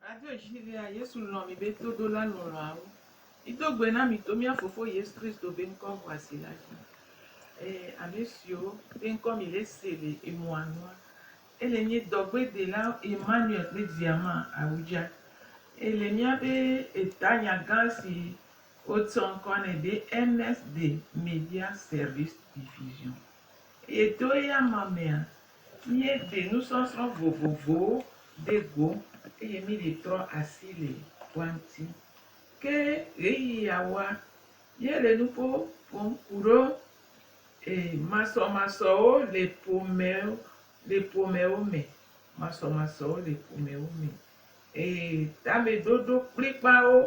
Adodzivia Yesu lɔ̃ mi be todola lɔlɔ̃awo. Mido gbe na mi to mía Fofo Yesu Kristo be ŋkɔ ŋɔasi la dzi. Ee, ame siwo be ŋkɔ mi le se le emɔa nua, ele nye dɔgbedela Emmanuel kple via ma Awudza. Ele míaƒe etanya gã si Wotsɔ ŋkɔ nɛ be Ernest de Media Service Division eye to eya ma mea, míeɖe nusɔsrɔ̃ vovovowo ɖe go eye míeɖe trɔ asi le woa ŋuti. Ke ɣeyiɣiawoa, míele nuƒo ƒom ku ɖo e, masɔmasɔwo le ƒomewo le ƒomewo me, masɔmasɔwo le ƒomewo me. Ee, tameɖoɖo kplikpaawo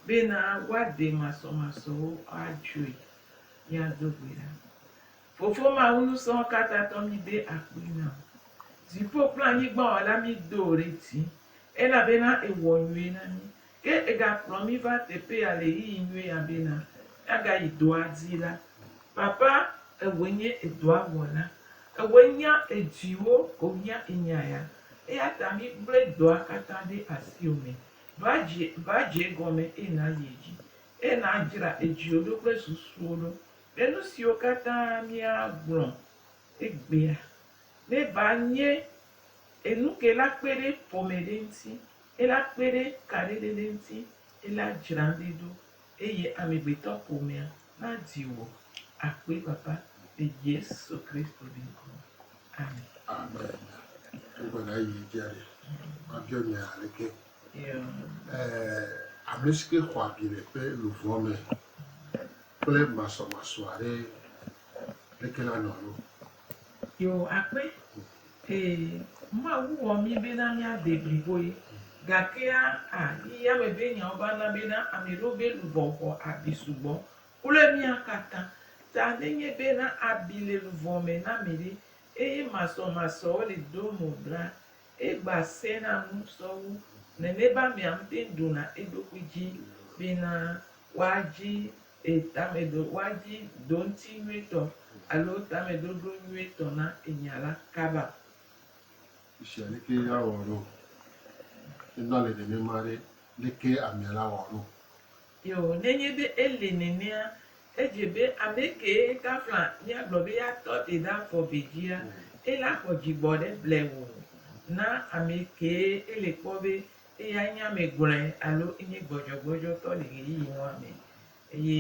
bena woaɖe masɔmasɔwo adzoe. Míado gbe ɖa. Fofo Mawu Ŋusẽkatãtɔ, míde akpe na wò. Dziƒo kple anyigba Wɔla, mído wò ɖe dzi elabena èwɔ nyui na mí. Ke ègakplɔ mí va teƒe ya le ɣeyiɣi nyui ya bena míagayi dɔa dzi la, Papa, èwɔe nye edɔa Wɔla. Èwɔe nya edziwo ko hiã enya ya. Eya ta migblẽ dɔa katã ɖe asiwò me va dzi, va dze egɔme, eye nàyi edzi, eye nàdzra edziwò ɖo kple susuwò ɖo ɖe nu siwo katã míagblɔ egbea ne va nye enu ke la kpe ɖe ƒome ɖe eŋuti, eye la kpe ɖe kaɖedede ŋuti, eye la dzra ɖe ɖo Eye amegbetɔƒomea nadi wò akpefafã le Yesu Kristo ƒe ŋkɔ me. Amen. Amen. Wogbe na yi dzia ɖe. Mabiɔ nya ale ke. Ame si ke xɔ abi le ƒe luʋɔ me kple masɔmasɔ aɖe, leke la nɔ alo? Yoo, akpe. Ee, Mawu wɔ mí bena míade bliboe. Gakea, a, yi yame be nyawo va na bena ame ɖewo be luʋɔ xɔ abi sugbɔ kple mía katã ta. Nenye bena abi le luʋɔ me na ame ɖe, eye masɔmasɔwo le do mo la, Egba se na nu sɔ wu nene be amea ŋutɛŋ ɖo na eɖokui dzi bena woa dzi e tame ɖo, woa dzi ɖo ŋuti nyuietɔ alo tame ɖoɖo nyuietɔ na enya la kaba. Sia leke ya wɔ ɖo, ne na le nenema ɖe, leke amea la wɔ ɖo? Yo, nenye be ele nenea, edze be ame kee kafla míagblɔ be ya tɔ te ɖe afɔ ve dzia, ela xɔ dzigbɔ ɖe blewu na ame kee ele kpɔ be eya nye ame gblɔe alo enye gbɔdzɔgbɔdzɔtɔ le ɣeyiɣi nua me. Eye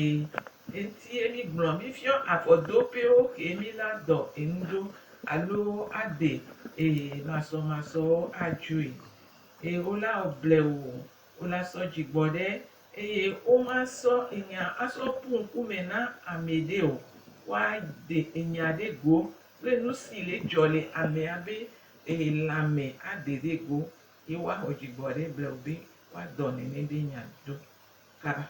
eŋutie mígblɔ, mífiɔ afɔ do pewo kee míla dɔ enu ɖo alo ade e masɔmasɔwo adzoe. Eye wola wɔ blewu Wolasɔ dzi gbɔ ɖe, eye womasɔ enya asɔ ƒu ŋkume na amɛ ɖe o. Woade enya ɖe go kple nusi le dzɔ le amea be lãme ade ɖe go, ye woaxɔ dzi gbɔ ɖe blewube, woadɔ nene be nya do kaba.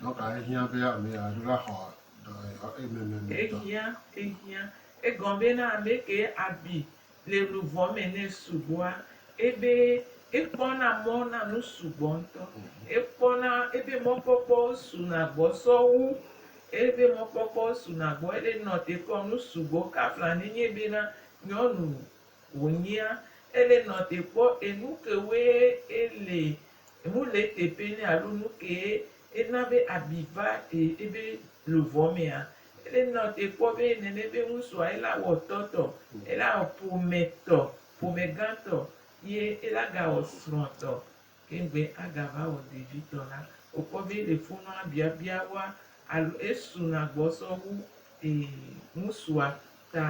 Dɔ kae hiã be ame aɖe va xɔ dɔyɔyɔ ememe me dɔ? Ehiã, ehiã. Egɔ be na ame ke abi le luvɔ me nɛ sugbɔa, ebe ekpɔna mɔ na nu sugbɔ ŋutɔ. Ekpɔna, ebe mɔkpɔkpɔwo suna gbɔ sɔ wu. Ebe mɔkpɔkpɔwo suna gbɔ ele nɔ te kpɔ nu sugbɔ kafla ne nye be na nyɔnu wònyea. Ele nɔ te kpɔ enu kewoe ele Enu le eteƒe nɛ alo nukee ena be abi va ebe luvɔ mea? Ele nɔ te kpɔ be nene be ŋusua ela wɔ tɔ tɔ, ela wɔ ƒome tɔ, ƒome gã tɔ, ye ela ga wɔ srɔ̃ tɔ, ke ŋgbe aga va wɔ ɖevi tɔ la, wokpɔ be ele fonɔa biabia woa alo esu na gbɔ sɔ wu ŋusua ta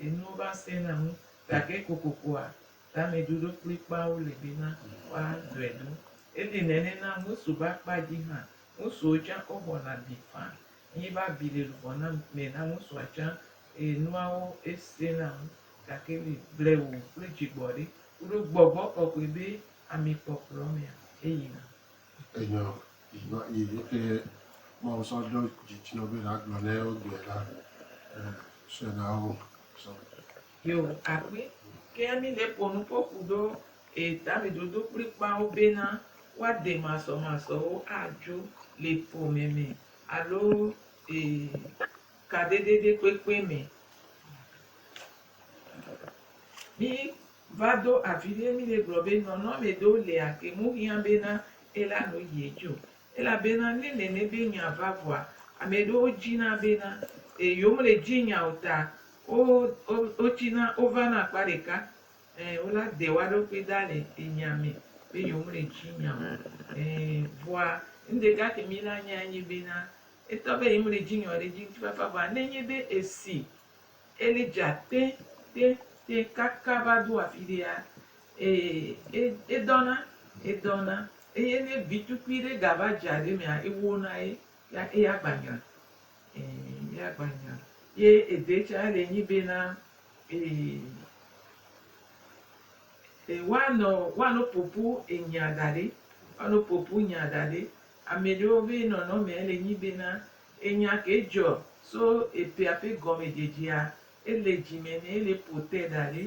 enuwo va sena ŋu gake kokokoa Tameɖoɖo kplikpaawo li bena woaɖɔe ɖo. Eli nɛnɛ na ŋutsu be akpa dzi hã. Ŋutsuwo tsã woxɔna abi faa. Nyi be abi li luʋɔ na me na ŋutsua tsã eye nuawo esẽ na ŋu. Gake li blewu kple dzigbɔɖi kuɖo gbɔgbɔ kɔkɔe be ami kpɔkplɔ mea eyina. Enyɔ yi nɔ yi yike Mawu sɔ ɖo dzi dzi nɔ be nagblɔ nɛ wogblɔe la e sɔe na wo sɔ. Yo akpli keŋ mi ne po nu ko ku ɖo e tami dodo kpli kpawo be na wa de masɔ masɔ wo a djo le po me me alo e ka dede ɖe kpekpe me. Mi va do avi ɖe mi ne gblɔ be nɔnɔme ɖewo le a ke mu hiã be na e la nu yi edjo. Elabena ne nene be nya va vɔa, ame ɖewo dzina bena, E, yewomele dzi nya o ta wo, wo, wotsina, wovana akpa ɖeka. Ẽ, wola de woa ɖokui da le enya me be yewomele dzi nya o. Ẽ, vɔa, nuɖeka ke mila nyae nye bena, etɔ be yemele dzi nya o ɖe edzi ŋutifafa. Vɔa ne enye be esi Eli dze agbee te te kaka va do afi ɖea, ee, e, edɔna, edɔna. Eye ne vi tukui ɖe gava dze aɖe mea, ewo na ye, ya eya gba nyra. Ẽ, eya gba nyra. Ye ede tsa le nyi bena, ee, e, woanɔ, woanɔ ƒoƒu enya da ɖɛ, woanɔ ƒoƒu nya da ɖɛ. Amɛɖewo be nɔnɔmɛ le nyi bena, Enya ke dzɔ so epea ƒe gɔmedzedzea, ele dzi me nɛ, ele ƒo te da ɖi,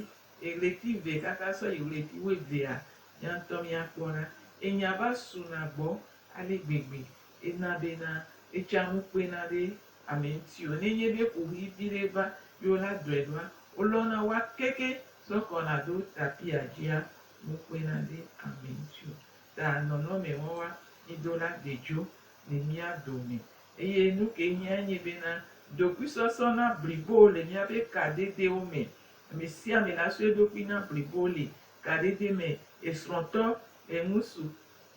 eɣleti eve kaka sɔ yi ɣleti wuevea, mia ŋutɔ mia kpɔ ɖa. Enya va su na gbɔ ale gbegbe, ena be na etsa ŋu kpe na ɖe ame ŋuti o. Ne nye be kuxi vi ɖe va ye wo la dɔe ɖoa, wo lɔ na wa keke sɔ kɔ na ɖo tapia dzia ŋu kpe na ɖe ame ŋuti o. Ta nɔnɔme wɔwa mi do la de dzo le mía dome. Eye nu ke hiã nye bena, ɖokuisɔsɔ na blibo le míaƒe kadedewo me. Ame sia ame la sɔ eɖokui na blibo le kadede me, esrɔ̃tɔ, eŋutsu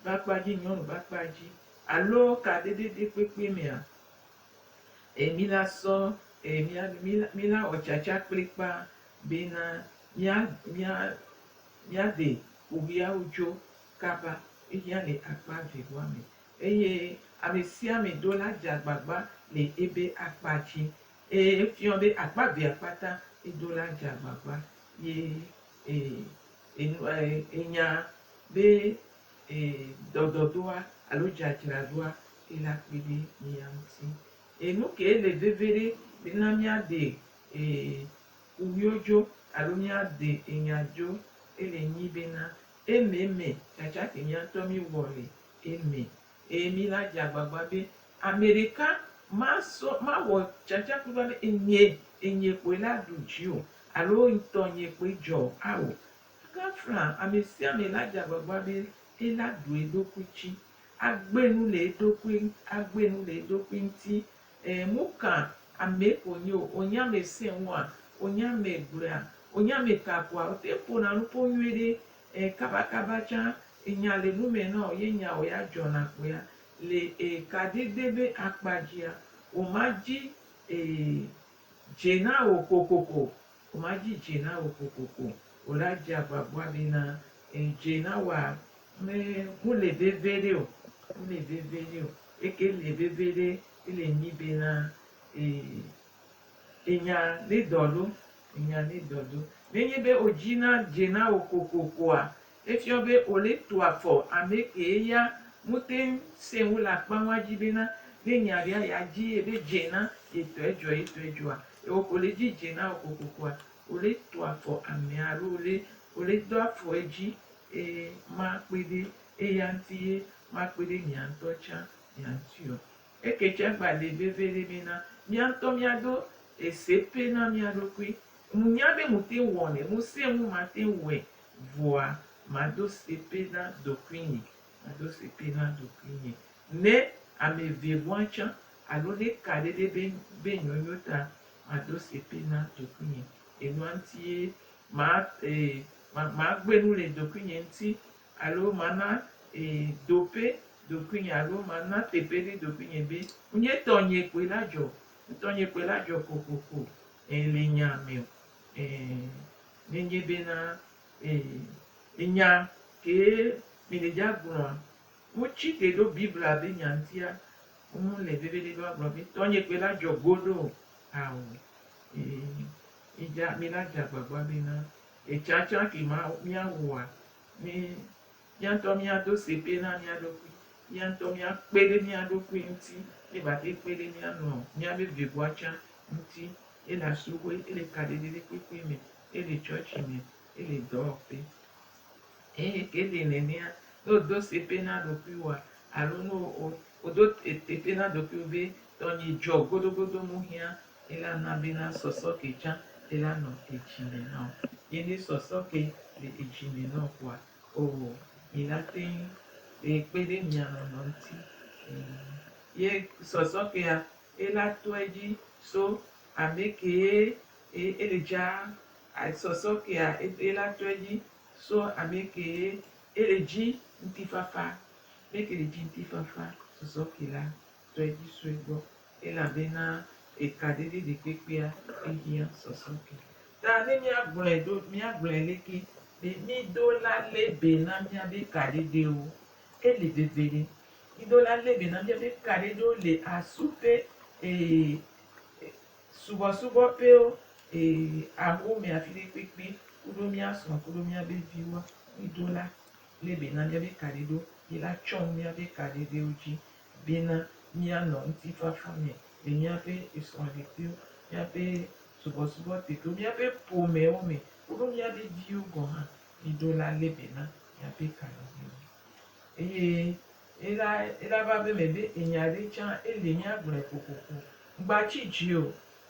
ƒe akpa dzi, nyɔnu ƒe akpa dzi, alo kadede ɖe kpekpe mea, e mí la sɔ e mía mí la wɔ tsatsa kplikpa bena mía mía míaɖe ƒoʋiawo dzo kaba. Ehiã le akpa evewɔa me. Eye amesiame ɖo la dze agbagba le ebe akpa dzi, eye efiɔ be akpa vea kpata edo la dze agbagba, ye e, enu, e, enya be e, dɔdɔdoa alo dzadzraɖoa ke la kpe ɖe mia ŋuti. Eye nukae le veviɖe be na miaɖe e, kuwuio dzo alo miaɖe enya dzo? Ele nyi bena, ememe tsatsa ke mia ŋutɔ miwɔ le. Eme, eye mina dze agbagba be ameɖeka masɔ, mawɔ tsatsaƒu va be enye, enye kpoe la ɖu dzi o, alo ŋtɔnye kpoe dzɔ o, ao. Gafla amesiame la dze agbagba be ela ɖu eɖokui dzi, agbe nu le eɖokui, agbe nu le eɖokui ŋti, Ɛɛ, ŋu ka amee ko wònye o, wònye ame sẽe ŋua, wònye ame gblɔea, wònye ame tea agua, wote ƒona nu ƒo nyuie ɖe, ɛɛ, kabakaba tsã nya le nu me na wò ye nyawo ya dzɔna kpo ya le, ɛɛ, kaɖigbɛ be akpa dzia, wòmadzi, ɛɛ, Dze na wò kokoko, womadzi dze na wò kokoko o la dze agbagba ɖi na eye dze na wòa me ŋu le veviɖe o, ŋu le veviɖe o, eke le veviɖe ele nyi be na ee enya ne dɔ ɖo, enya ne dɔ ɖo. Nenye be wò dzi na dze na wò kokokoa, Efiɔ be Ole tu afɔ amɛ kee ya ŋutɛŋ sɛn wu le akpa ŋua dzi be na ne nya ɖea ya dzi ye be dze na ye tɔ edzɔa ye tɔ edzɔa ewɔ ko le dzi dze na wɔ kokokoa Ole tu afɔ amɛa alo Ole Ole do afɔ edzi eye ma kpɔe be eya ŋti ye ma kpɔe be mia ŋtɔ tsa mia ŋtiɔ eke tsa gba le veve ɖe mɛ na mia ŋtɔ mia do ese pɛ na mia ɖokui ŋu nya be ŋutɛŋ wɔnɛ ŋu sɛn ŋu ma tɛŋ wɔɛ Vɔa mado sepe na ɖokuinye, mado sepe na ɖokuinye, ne ame ve ŋua tsã, alo ne ka ɖe ɖe be be nyonyo ta, mado sepe na ɖokuinye. Enua ŋuti ye ma e ma magbe nu le ɖokuinye ŋuti alo mana e dope ɖokuinye alo mana teƒe ɖe ɖokuinye be ŋunye tɔnye kpoe la dzɔ o. Ŋutɔnye kpoe la dzɔ kokoko e le nya me o. Ɛɛ, nenye bena ɛɛ, enya kee mineja gblɔa, wotsi ke ɖo Biblia be nya ŋutia, womu le veviɖe be woagblɔ be, Tɔnye kpe la dzɔ goɖo o. Ao, ɛɛ, midza, milaja agbagba bena, etsatsa ke ma, miawɔa, ne. Mía ŋutɔ míado segbe na mía ɖokui. Mía ŋutɔ míakpe ɖe mía ɖokui ŋuti. Míegate ŋu kpe ɖe mía nɔ míaƒe vevua tsã ŋuti. Ele asubɔe, ele kaɖiɖiɖikpukpui me, ele tsɔtsi me, ele dɔwɔƒe. Eye ke ɖi nenea, ne wòdo segbe na ɖokuiwòa alo ne wò, wòdo teƒe na ɖokuiwò be tɔnye dzɔ godogodo, mehiã Ela na be na sɔsɔ ke dza ela nɔ edzi me na wo. Ye ne sɔsɔ ke le edzi me na wo kpoa, oo, mi la teŋ be kpe ɖe mia nɔnɔ ŋuti. Ee. Ye sɔsɔ kea, ela tɔ edzi so ame kee e ele dza. A sɔsɔ kea ela tɔ edzi so ame kee ele dzi ŋutifafa. Ame ke le dzi ŋutifafa sɔsɔ ke la. sue dzi sue gbɔ, elabena ekaɖedzi ɖekpekpea ehiã sɔsɔ ke. Ta ne míagblɔe ɖo, míagblɔe leke? Ɖe mído la lé be na míabe kaɖeɖewo? Ele veve ɖe! Mído la lé be na míabe kaɖeɖewo le asu ƒe, ee, subɔsubɔƒewo, ee, ahome afi ɖe kpekpe kuɖo mía srɔ̃ kuɖo míabe viwoa. Mído la lé be na míabe kaɖeɖewo, yi la tsɔ nu míabe kaɖeɖewo dzi Bena míanɔ ŋutifafa me le míaƒe esrɔ̃ɖekliwo, míaƒe subɔsubɔteƒewo, míaƒe ƒomewo me koɖo míaƒe viwo gɔ̃ hã yi ɖo la lé be na míaƒe kalẽdodo. Eye ela, ela va be me be enya ɖe tsã ele míagblɔe kokoko. Ŋgbatsi dzi o,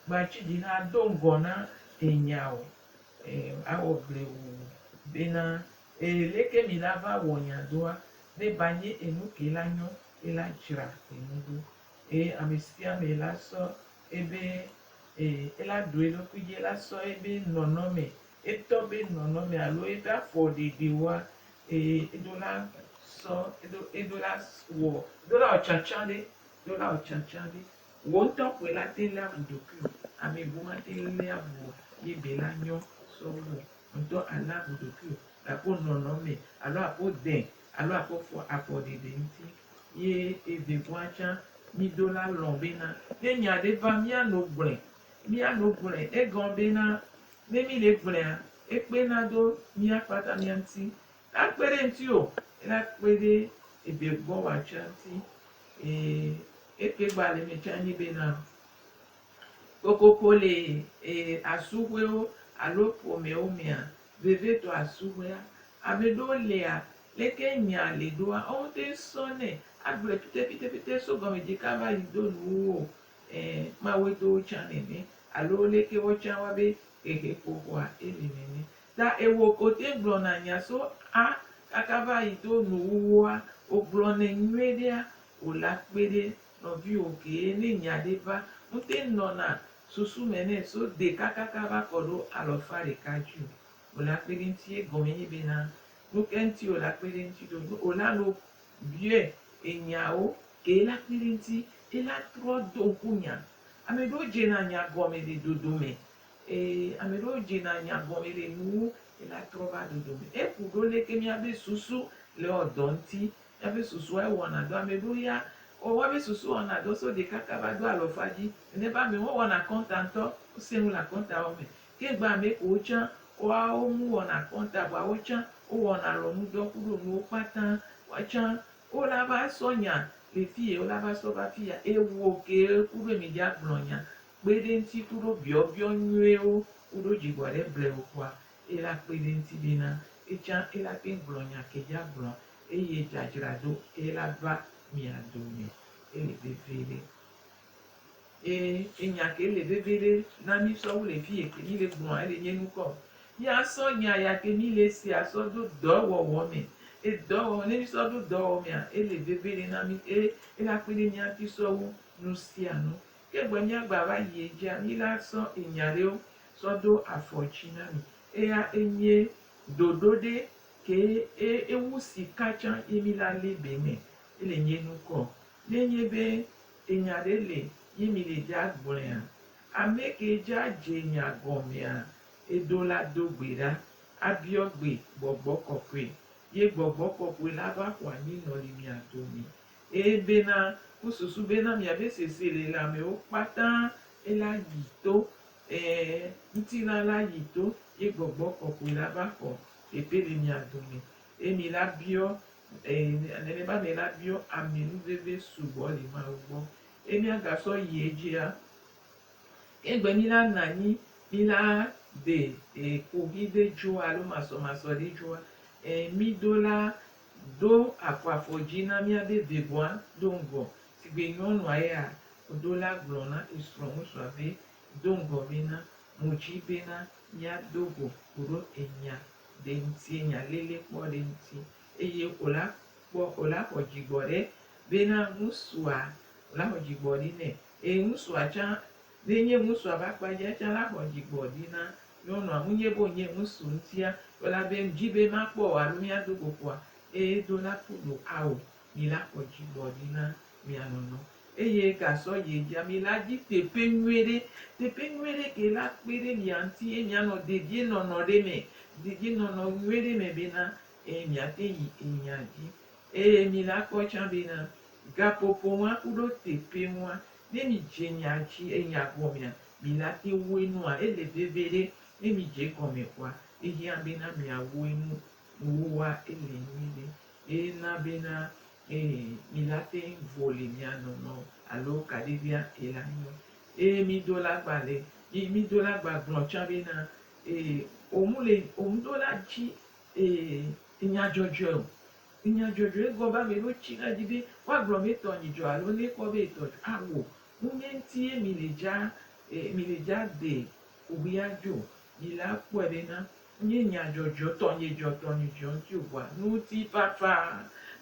ŋgbatsi dzi na ado ŋgɔ na enya o. E, awɔ gble wu bena Ee leke mi la va wɔ nya doa ne ba nye enu ke la nyɔ e la dzra enu ɖo. Ee amesipia me la sɔ e be ee e la ɖo eɖokui dzi e la sɔ e be nɔnɔ me e tɔ be nɔnɔ me alo e ɖa fɔ ɖe ɖe woa ee eɖo la sɔ eɖo eɖo la wɔ eɖo la wɔ tsatsa ɖe eɖo la wɔ tsatsa ɖe wò ŋutɔ koe la te le avu ɖokui o ame bu ma te le avu o ye be la nyɔ sɔ wɔ. ŋutɔ ana wò ɖokuiwò le àƒo nɔnɔ mɛ alo àƒo dɛ alo àƒo fɔ afɔ ɖeɖe ŋuti. Ye evegɔa tsã mí do la lɔ̃ bena ne nya ɖe va mía no gblɔe. Mía no gblɔe. Egɔ bena ne mí le gblɔea, ekpe na do mía kpata mía ŋuti. Ne akpe ɖe ŋuti o, ela kpe ɖe evegɔa tsã ŋuti. Eye eke gba le mɛ tsã nyi bena. Kokoko le ee asuhwewo alo ƒomewo mea, vevitɔ asuhwea. Ame ɖewo lia, leke nyaa le ɖoa, woŋte ŋsɔnɛ agblɔe pitepitepite so gɔmedzika va yi do nuwuwo o, ẽ, Mawue to wo tsã nene, alo leke woatsã wa be xexeƒoxoa eli nene. Ta ewo ke wote ŋgblɔna nya so a kaka va yi do nuwuwoa, wogblɔnɛ nyuiɖea, wòlea kpe ɖe Nɔviwo kee ne nya ɖe va, ŋte nɔna susu me nɛ so de kakaka va kɔ ɖo alɔfa ɖeka dju o. O la kpe ɖe ŋti ye gɔme nye be na nuke ŋti o la kpe ɖe ŋti ɖo. Ne o la no biɔɛ enyawo kee la kpe ɖe ŋti e la trɔ do ŋku nya. Ame ɖewo dze na nya gɔme le dodo me. E, ame ɖewo dze na nya gɔme le nuwo e la trɔ va dodo me. E ku ɖo leke mia be susu le ɔ dɔ ŋti Eƒe susua wɔna dɔ ame ɖo ya o wa ƒe susu wɔna dɔ so ɖekaka va do alɔfa dzi ene va ame wo wɔna kɔnta ŋtɔ wo se nu la kɔnta wɔ me ke gba ame kowo tsã wa wo mu wɔna kɔnta vɔa wo tsã wo wɔna lɔnu dɔ kuɖo nuwo kpata wa tsã wo la va sɔ nya le fiye wo la va sɔ va fiya ewo ke kuɖo eme dza gblɔ nya kpeɖe ŋti kuɖo biɔbiɔ nyuie wo kuɖo dzigbɔ ɖe blewo kpɔa Ela kpe ɖe eŋuti be na etsã ela te gblɔ nya ke dza gblɔa eye dza dzra do ela va mia dome ele vevie ɖe. E enya ke ele vevie ɖe na mi sɔ wu le fiye ke mi le gblɔa ele nye nukɔ o. Mia sɔ nya ya ke mi le sea sɔ ɖo dɔ wɔwɔ me. E dɔ wɔwɔ ne mi sɔ ɖo dɔ wɔwɔ mea ele vevie ɖe na mi e ela kpe ɖe mia ŋuti sɔ wu nu sia nu. Ke egbe mia gba va yi edzia mi la sɔ enya ɖewo sɔ do afɔ tsi na mi. Eya enye ɖoɖo ɖe ke e ewu sika tsã yi mi la li be me ele nye nu kɔ. Ne nye be enya ɖe le yi mi le dza gblɔea, ame ke dza dze nya gɔmea edo la do gbe ɖa abiɔ gbe gbɔgbɔ kɔkɔe, ye gbɔgbɔ kɔkɔe la va xɔa nyi nɔli mia dome. Eye bena wosusu bena miabe sese le lãmewo kpata e la yi to, e, ŋutilã la yi to, ye Gbɔgbɔ Kɔkɔe la va xɔ teƒe le mia dome, eye mi la biɔ, e, nenema mi la biɔ ame nu veve sugbɔ le Mawu gbɔ, eye miagasɔ yi edzia, egbe mi la nanyi mi la de, e, kohi ɖe dzoa alo masɔmasɔ ɖe dzoa, e, mi do la Ɖo àkɔ afɔ dzi na mía be vivɔa do ŋgɔ. Sigbe nyɔnua ya ɖo la gblɔ na esrɔ̃ ŋutsua be, Do ŋgɔ be na mu dzi bena mía do go koɖo enya ɖe ŋuti, enya lele kpɔ ɖe ŋuti. Eye o la kpɔ, o la xɔ dzi gbɔ ɖe bena ŋutsua, o la xɔ dzi gbɔ ɖi nɛ. Eye ŋutsua tsã Ne nye ŋusua be akpadzia tsã la xɔ dzigbɔ ɖi na nyɔnua ŋunye bo nye ŋusu ŋutia, elabe ŋdi be makpɔ wò alo míado go ƒoa, eye do la ku ɖo ao, mi la xɔ dzigbɔ ɖi na mia nɔnɔ, eye gasɔ yie dzia mi la dzi teƒe nyuiɖe. Teƒe nyuiɖe ke la kpe ɖe mia ŋuti ye mianɔ dedienɔnɔ ɖe me, dedienɔnɔ nyuiɖe me bena, eye miate yi enya dzi. Eye mi la kpɔ tsã bena, gaƒoƒo ŋua ku ɖo teƒe ŋua Ne mi dze nya tsi eya gɔmea mi la te woe nua ele veve ɖe ne mi dze egɔme kɔa ehia be na mia woe nu woa ele nyui ɖe eye na be na eye mi la te vo le mia nɔ nɔ alo kaɖi via ela nyɔ eye mi do la gba le mi mi do la gba gblɔ tsa be na eye omu le omu do la tsi eye enya dzɔdzɔe o Nya dzɔdzɔe gɔme ame ɖewo tsina edzi be woagblɔ be etɔ nyi dzɔ alo ne ekpɔ be etɔ dzɔ awu nu nye ŋuti ye mi le dza e mi le dza de kuxi adzo o. Mi le akpɔe be na nye nya dzɔdzɔe o tɔ nye dzɔ tɔ nye dzɔ ŋuti o vɔa nutifafa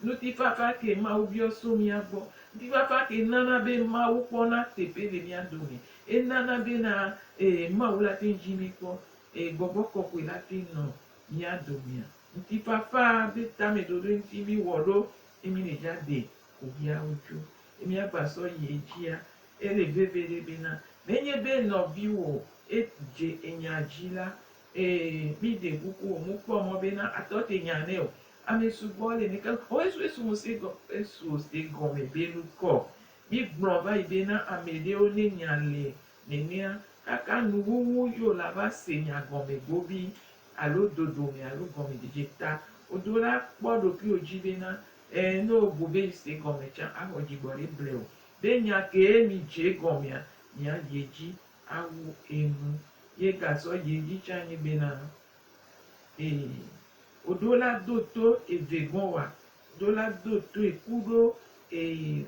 nutifafa ke Mawu biɔ so mía gbɔ. Nutifafa ke nana be Mawu kpɔna teƒe le mía dome. Enana be na e Mawu la te ŋu dzi mi kpɔ e gbɔgbɔ kɔkɔe la te ŋu nɔ mía domea. Ŋutifafa be tameɖoɖoe ŋuti míwɔ ɖo ye mí le dza de kuviawo tso ye mía gba sɔ yi edzia. Ele veve ɖe be na nenye be nɔviwo e dze enya dzi la, e mí ɖe kuku o mu kpɔ mɔ be na atɔ te nya nɛ o. Ame sugbɔ le neke o esu esu mu se gɔ esu o se gɔme be nukɔ. Mí gblɔ vayi be na ameɖewo ne nya le Nenea, kaka nuwuwu yo la va se nya gɔme gobi alo dodo me alo gɔmedzedze ta wodo la, kpɔ ɖokuiwò dzi bena, ẽ, ne wobu be yi se gɔme tsã axɔ dzigbɔɖi blewu. Ɖe nya kee mìdze egɔmea, mìayi edzi awu enu. Ye gasɔ yi edzi tsã anyi bena, Ee, wodo la do to eve gɔ̃ wa, wodo la do toe kuɖo ee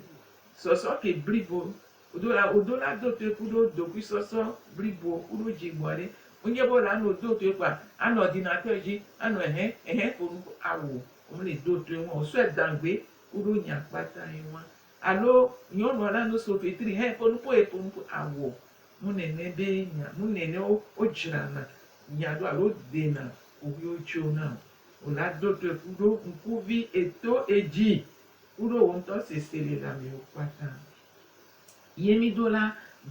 sɔsɔ ke blibo Wodo la, wodo la do toe kuɖo dokuisɔsɔ blibo kuɖo dzi gbɔa ɖe. Wonye be wole ano do toe kpoa, anɔ ordinateur dzi, anɔ ɛhɛ, ɛhɛ ƒo nu ko awu o. Womele do toe ŋua o. Wosɔɛ da ŋgbe kuɖo nya kpata ye ŋua. Alo nyɔnua le ano so fetri hɛ ƒo nu po ye ƒo nu po awu o. Nu nɛnɛ be nya, nu nɛnɛ wo, wo dzrana nya ɖo alo dena xoxuiwo tso na o. Wo la do toe kuɖo ŋkuvi eto edzi kuɖo wo ŋutɔ seselelamiwo kpata. Ye mído la,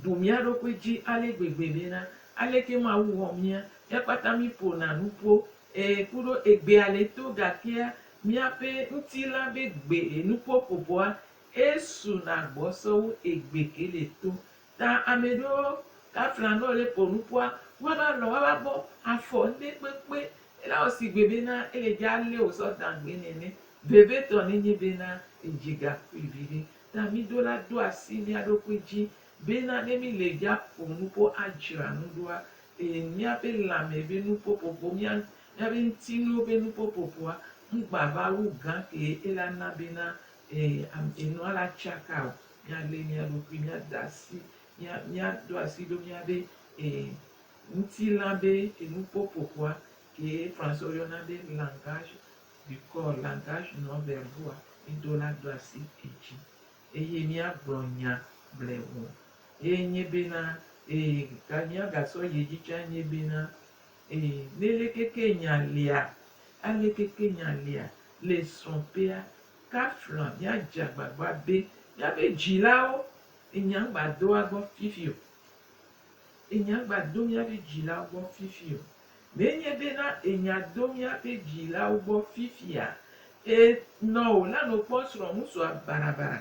bu mía ɖokui dzi ale gbegbe bena, Aleke Mawu wɔ mía? Ekpata míƒona nu ƒo, ɛ̃, ku ɖo egbea le to gakea míaƒe ŋutilã be gbe nuƒoƒoƒoa esuna gbɔsɔ wu egbe ke le to. Ta ame ɖewo gafla nɔ le ƒo nu ƒoa, woava alɔ, woava abɔ, afɔ ŋɖe kpekpe. Ela wɔ sigbe bena ele dze ale wòsɔ dã gbee nene. Vevitɔ nenye bena edzi gakpui viɖe. ta míɖo la ɖo asi mía ɖokui dzi bena ne míle ya ƒom nuƒo adzra nu ɖoa, ee, míaƒe lãme be nuƒoƒoƒo, mía, míaƒe ŋutinuwo be nuƒoƒoƒoa, ŋugbava wu gã kee ela na bena, ee, am, enua la tsaka o. Míalé mía ɖokui, míada asi, mía, míaɖo asi ɖo míaƒe, ee, ŋutilã be enuƒoƒoƒoa, kee Français woyɔna be langage Mikɔ langage nɔ verboa mido la do asi edzi eye miagblɔ nya bleŋu ye nye bena ee ga miagasɔ yi edzi tsa nye bena ee nelekeke nya lia alekeke nya lia le srɔ̃ƒea kafla miadze agbagba be miaƒe dzilawo enya ŋgba do woagbɔ fifi o enya ŋgba do miaƒe dzilawo gbɔ fifi o. Menye be na enya do míaƒe vi lawo gbɔ fifia. E nɔ o la no kpɔ srɔ̃ ŋutsua barabara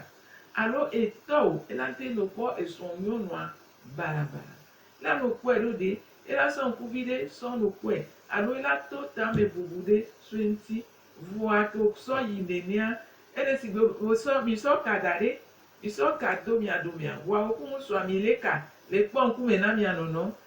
alo e tɔ o la ŋte no kpɔ esrɔ̃ nyɔnua barabara. La no kpɔe ɖo ɖe e la sɔ ŋkuvi ɖe sɔ no kpɔe alo e la to tame bubu ɖe sɔe ŋti. Vɔa to sɔ yi nenea ene sigbe wo sɔ mi sɔ ka da ɖe mi sɔ ka do mia domea vɔa wo ku ŋutsua mi le ka le kpɔ ŋkume na mia nɔnɔ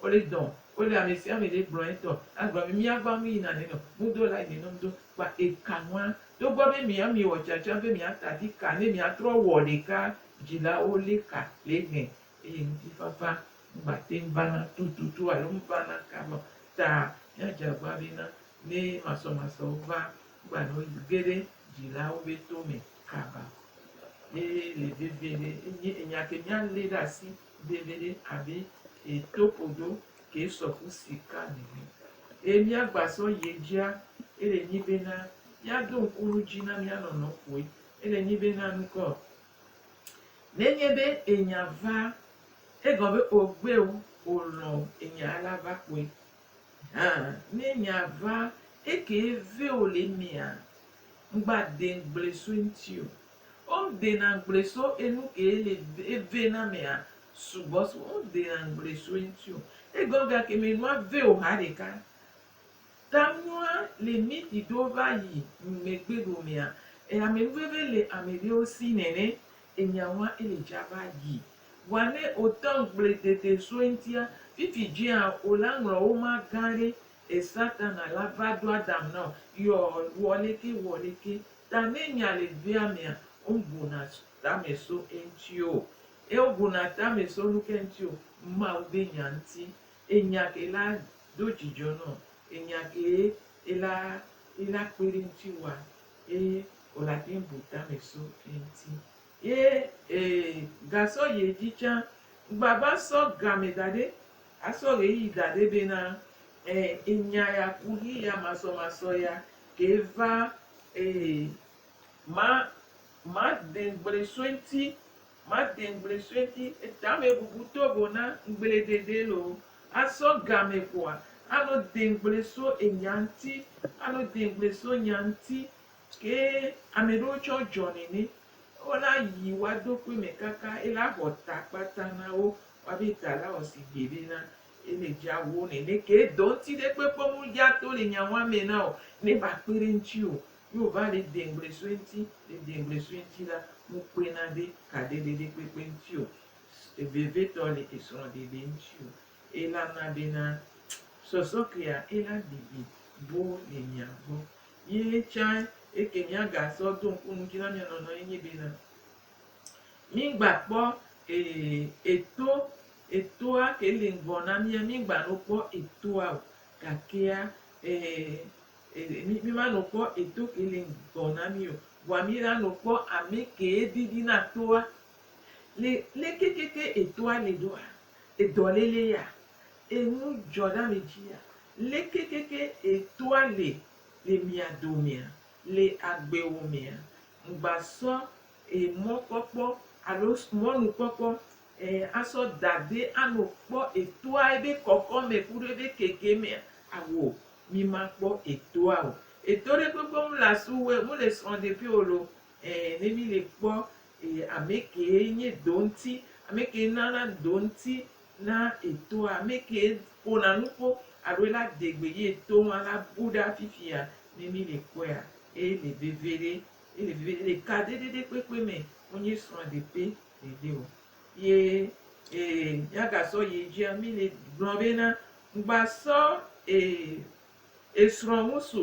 Wole dɔ, wole amesiame ɖe gblɔ etɔ, agblɔ be miagbɔ anu yina ne nɔ nudo la yine nɔ nudo kpa eka nua. Togbɔ be mia mi wɔ tsã tsã be mia tadi ka ne mia trɔ wɔ ɖeka dzila wo le ka le egbɛ eye ŋuti fafa mgba teŋ vana tututu alo mvana ka me ta mia dze agba be na ne masɔ masɔ wo va mgba nɔ yi ge ɖe dzila wo be to me kaba. Ye le vevie ɖe enye enya ke mia le ɖe asi. Ɖeɖeɖe abe e to kodo ke sɔ ku sika nene. E mía gba sɔ ye djia, ele nyi be na mía do ŋku nu dji na mía nɔnɔ koe. Ele nyi be na nu kɔ. Ne nye be e nya va, e gɔ be o gbe o, o lɔ o, e nya a la va koe. Hã, ne nya va, e ke e ve o le mea, ŋgba de ŋgble so eŋti o. Wo dena ŋgble so enu ke le eve na mea sugbɔ so wo dena ŋgble so eŋti o. Egɔ ga ke me nua ve o ha ɖeka. Ta nua le miti ɖo va yi megbe ɖo mea e ame nu veve le ame ɖewo si nɛnɛ enya ŋua ele dza va yi. Vɔa ne o te ŋgble dede so eŋtia, fifi dzea o la ŋlɔ wo ma gã ɖe E Satana la va do Adam nɔ yɔ wɔleke wɔleke ta ne nya le vea mea, oŋbuna tame so eŋti o. E obuna tame so nuke ŋti o? Mawu be nya ŋti. Enya ke la do dzidzɔ nɔ. Enya ke ela ela kpeɖe ŋti wa, e olatɛnŋ bu tame so eŋti. Ye ee, gasɔ yi edzi tsã. Ŋgbava sɔ game da ɖɛ, asɔ ɣeyiɣi da ɖɛ bena ɛɛ enya ya ku ɣeyiɣia masɔmasɔ ya kee va ee ma made ŋgble sue ŋuti, made ŋgble sue ŋuti. Etame bubu tovo na ŋgble ɖeɖe lo. Asɔ game koa, ano de ŋgble so enya ŋuti, ano de ŋgble so nya ŋuti. Ye ame ɖewo tsɛ wodzɔ nɛnɛ. Wona yi woa do kpe mɛ kaka ye la xɔ ta kpata na wo. Woa be ta la wɔ si gbe ɖe na ye le dza wo nɛnɛ. Ke dɔ ŋuti ɖe kpekpe me wodza to le nya wa mɛ na o ne va kpe ɖe ŋuti o. Ye wova le deŋgble sue ŋuti, le deŋgble sue ŋuti la, mu kpe na ɖe ka ɖe ɖe ɖe kpekpe ŋuti o. Vevetɔ le esrɔ̃ ɖeɖe ŋuti o. Ye la na be na sɔsɔ kea ye la bibi boo le mia gbɔ. Ye tsã eke míagasɔ do ŋku ŋdzi na mía nɔnɔewo ye nyi bena, mígbakpɔ eto, etoa ke li ŋgɔ na mía, mígbanɔ kpɔ etoa o, gakea mímanɔ kpɔ eto ke li ŋgɔ na mí o, vɔa míɖanɔ kpɔ amɛ kee didi na toa. Le leke ke ke etoa li ɖoa, edɔlele ya, Enu dzɔ ɖe ami dzia? Leke keke etoa le le mia domea? Le agbewo mea, ŋgba sɔ e mɔkpɔkpɔ alo mɔnukpɔkpɔ e asɔ dade ano kpɔ etoa ebe kɔkɔme kuɖo ebe kekemea? Ao, mi ma kpɔ etoa o. Eto ɖe kpekpe ŋu le asu wue, ŋu le srɔ̃ ɖe ƒio lo. E ne mi le kpɔ e amekee nye do ŋti, amekee nana do ŋti Na etoa, ame kee ƒona nuƒo alo la de gbe ye to hã la bu ɖe afifia ne mi le kpɔea, eye le veviɖe, ele veviɖe, le kaɖeɖeɖe kpekpe me wonye srɔ̃ ɖepe ɖeɖe o. Ye e miaga sɔ yi edzia mi le gblɔ be na ŋgba sɔ e esrɔ̃ ŋusu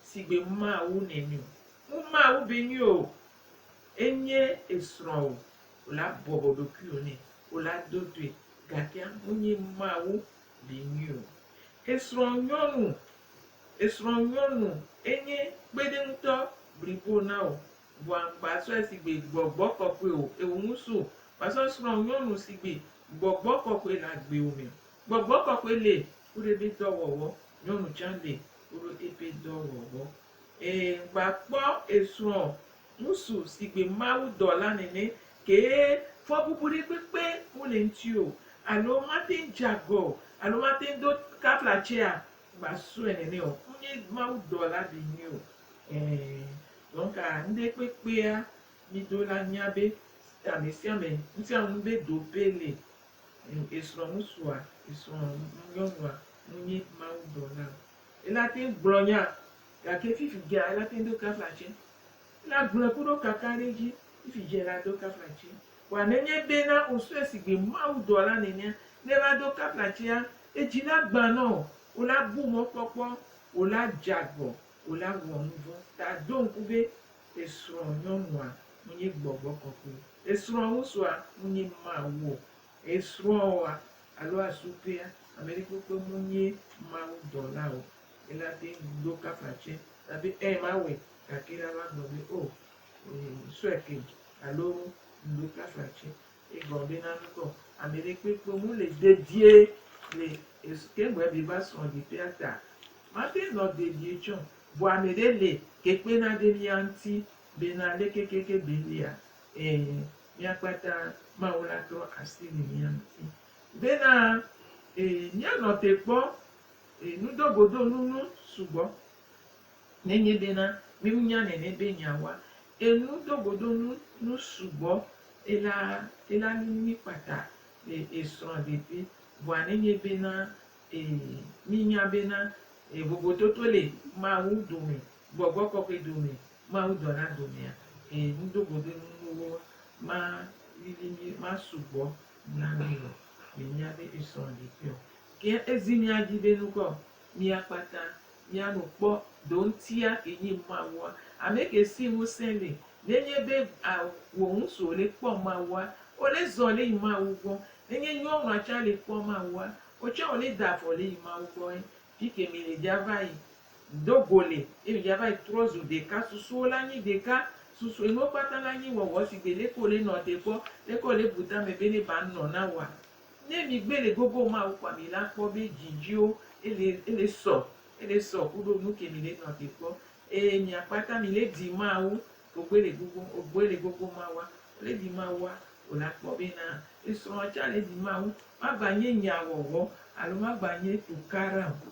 sigbe Mawu nɛni o. Ŋu Mawu be nyui o. Enye esrɔ̃wò wò la bɔbɔ ɖokuiwò nɛ wò la do toe gakea wonye Mawu vinyui o. Esrɔ̃ nyɔnu, esrɔ̃ nyɔnu enye kpeɖeŋutɔ blibo na wò vɔa ŋgba sɔe sigbe gbɔgbɔ kɔkɔe o eo ŋu su wòasɔ srɔ̃ nyɔnu sigbe gbɔgbɔ kɔkɔe le agbewo me. Gbɔgbɔ kɔkɔe le kuɖeɖe dɔ wɔwɔ, nyɔnu tsã le kuɖo eƒe dɔ wɔwɔ. E va kpɔ esrɔ̃ ŋusu sigbe Mawu dɔla nene ke fɔbubu ɖe kpekpe mu le ŋti o alo mate ŋ dze agɔ o alo mate ŋ do kafla tsea gba sɔe nene o ŋ nye Mawu dɔla ɖe nyui o ɛ dɔnka ŋɖe kpekpea mi do la nya be amesiame ŋsiaŋu be do pe le esrɔ̃ ŋusua esrɔ̃ nyɔnua ŋ nye Mawu dɔla o. Ela te ŋu gblɔ nyaa, gake fifi dzea ela te ŋu do kafla tsɛ. Ela gblɔe ku ɖo kaka ɖe edzi, fifi dze ela do kafla tsɛ. Kpɔa, nenye bena wosɔe sigbe Mawu dɔla nenea, ne ela do kafla tsɛa, edzi la gbã nɔ o, wola bu mɔ kpɔkpɔ, wola dze agbɔ, wola wɔ nu vɔ̃. Ta do ŋku be, esrɔ̃ nyɔnua ŋu nye gbɔgbɔ kɔkɔe, esrɔ̃ ŋusua ŋu nye Mawu o. Esrɔ̃ ɔa, alo asu kpea ameɖekpekpe mu nyie Mawu dɔla o, ela te ŋu ɖo kafa tsɛ na be ɛɛ mawɔe gake la va gblɔ be oo ŋsɔe ke alo ŋɖo kafa tsɛ. Egɔ be na nukɔ ameɖekpekpe mu le dedie le es ke ŋgbɔɛ be va srɔ̃ ɖekpea ta. Mate nɔ dedie tsɔ vɔ ameɖe le ke kpena ɖe mía ŋti be na le kekeke be lia ɛɛ Mía kpata Mawu la trɔ asi le mía ŋuti bena míanɔ te kpɔ nudogodonunu sugbɔ. Nenye bena míenya nene be míawa nudogodonunu sugbɔ la, ela nu mí kpata le srɔ̃ɖeƒe. Vɔa nenye bena míenya bena vovototo le Mawu dome, gbɔgbɔ kɔkɔe dome Mawu dɔ na do mia, eye nudogodonu nuwo ma lili mi ma sugbɔ na mi o, mi nya be esrɔ̃ ɖekui o. Ke ezi mia dzi be nukɔ mia kpata mia nu kpɔ do ŋtia ke nyi Mawua, ame ke si ŋusẽ le, nenye be a wo ŋusu ole kpɔ Mawua, ole zɔ le yi Mawu gbɔ, nenye nyɔnua tsa le kpɔ Mawua, otsã ole da vɔ le yi Mawu gbɔ ye Fike mi le dja va yi do go le ye mi dja va yi trɔ zu ɖeka susuwo la nyi ɖeka susu enuwo kpata la nyi wɔwɔ sigbe leke wole nɔ te kpɔ leke wole bu tame be ne ba nɔ na woa ne mi gbe le gogo mawu kpɔa mi la kpɔ be dji dziwo ele ele sɔ ele sɔ kuɖo nuke mi le nɔ te kpɔ eye mia kpata mi le ɖi mawu Ogbele gogo, ogbele gogo mawa, le di mawa o la kpɔ be na esrɔ̃a tsa le di mawu, magba nye nya wɔwɔ alo magba nye tukaɖa o.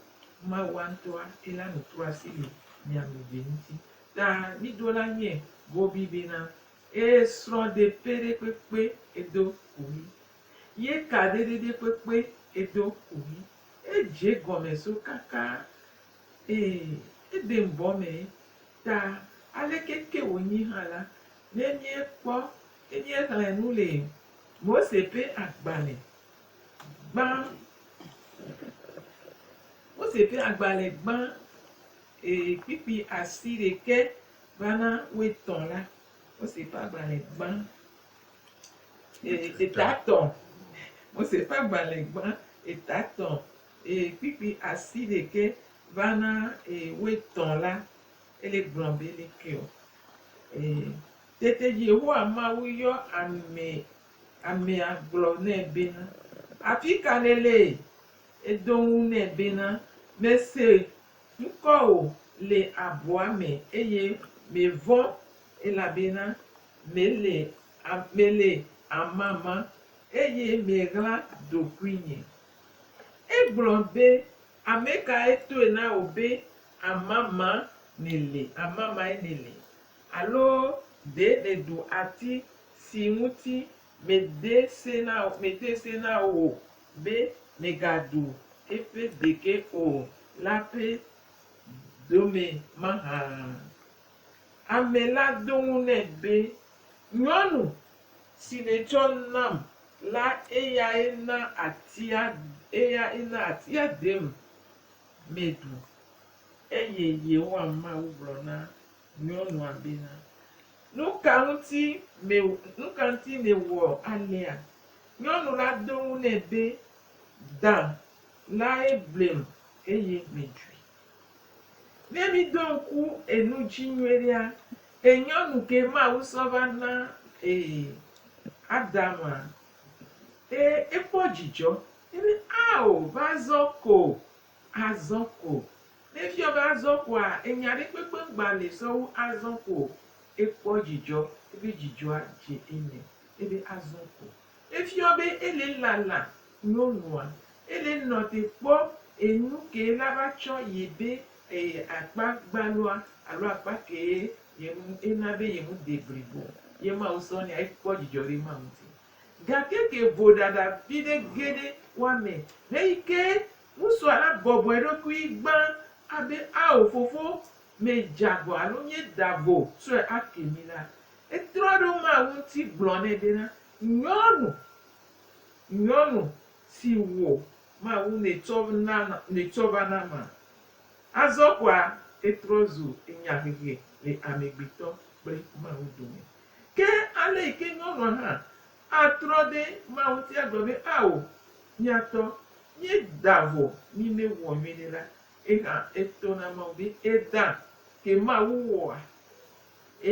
Mawua ŋtɔa ela nu tro asi le mia me be ŋti. Ta mi do la nye Bobby be na esrɔ̃ de pe ɖe kpekpe edo kuhi. Ye ka ɖe ɖe ɖe kpekpe edo kuhi. Edje gɔme so kaka Ee, Eden bɔ mee. Ta aleke ke wònyi hã la, ne míekpɔ, ne míexlẽ nu le Mose ƒe agbalẽ gbã, Mose ƒe agbalẽ gbã, ee, kpikpi asi ɖekɛ va na wuietɔ̃ la, Mose ƒe agbalẽ gbã, ee, etatɔ̃, Mose ƒe agbalẽ gbã, etatɔ̃, Eye kpikpi asi ɖekɛ va na eye woetɔ̃ la, ele gblɔ be ele ke o. Eye tete Yehowa Mawu yɔ ame, amea gblɔ nɛ bena, Afi ka nèle? Edo ŋu nɛ bena, Mese ŋkɔwò le abɔa me eye mevɔ̃, elabena mele, mele amama eye meɣla ɖokuinye. Egblɔ be, Ame kae tɔe na wò be amama nèli amamae nèli? Alo ɖe nèɖu ati si ŋuti mede se na wò, mede se na wò be mègaɖu eƒe ɖeke o la ƒe dome mahã? Ame la ɖo eŋu nɛ be, Nyɔnu, Si nètsɔ nam la eyae na atia eyae na atia dem meɖu. Eye Yehowa Mawu gblɔ na nyɔnua bena, Nu ka ŋuti me nu ka ŋuti nèwɔ alea? Nyɔnu la do eŋu nɛ be, Da lae blem eye meɖui. Ne mi do ŋku enu dzi nyuiɖea, e nyɔnu ke Mawu sɔ va na e Adama, e ekpɔ dzidzɔ. E be ao va azɔ ko, azɔ ko. Ne efiɔ be azɔ koa, enya ɖe kpekpe ŋgba nɛ sɔ wu azɔ ko o. Ekpɔ dzidzɔ, ebe dzidzɔa dze eme, ebe azɔ ko. Efiɔ be ele lala nyɔnua. Ele nɔ te kpɔ enu ke la va tsɔ yi be eye akpa gbalua alo akpa ke ye ŋu ena be ye ŋu de blibo ye Mawu sɔ nɛ ekpɔ dzidzɔ ɖe ema ŋuti. Gake ke vo ɖaɖa viɖe ge ɖe woa me heyi ke ŋusua la bɔbɔ eɖokui gbã abe ao fofo me dze agɔ alo mie da vo sɔe ake mi la, Etrɔ ɖe wo mawo ŋuti gblɔ nɛ bena, Nyɔnu, nyɔnu si wò mawu nètsɔ na nètsɔ va na ma? Azɔ kɔa etrɔ zu enyahehe le amegbetɔ kple Mawu dome. Ke ale yi ke nyɔnua hã atrɔ ɖe Mawu ŋuti agblɔ be, Ao, míatɔ, míeda vɔ, mí mewɔ nyuie nɛ la, ye hã etɔ na Mawu be, Eda ke Mawu wɔa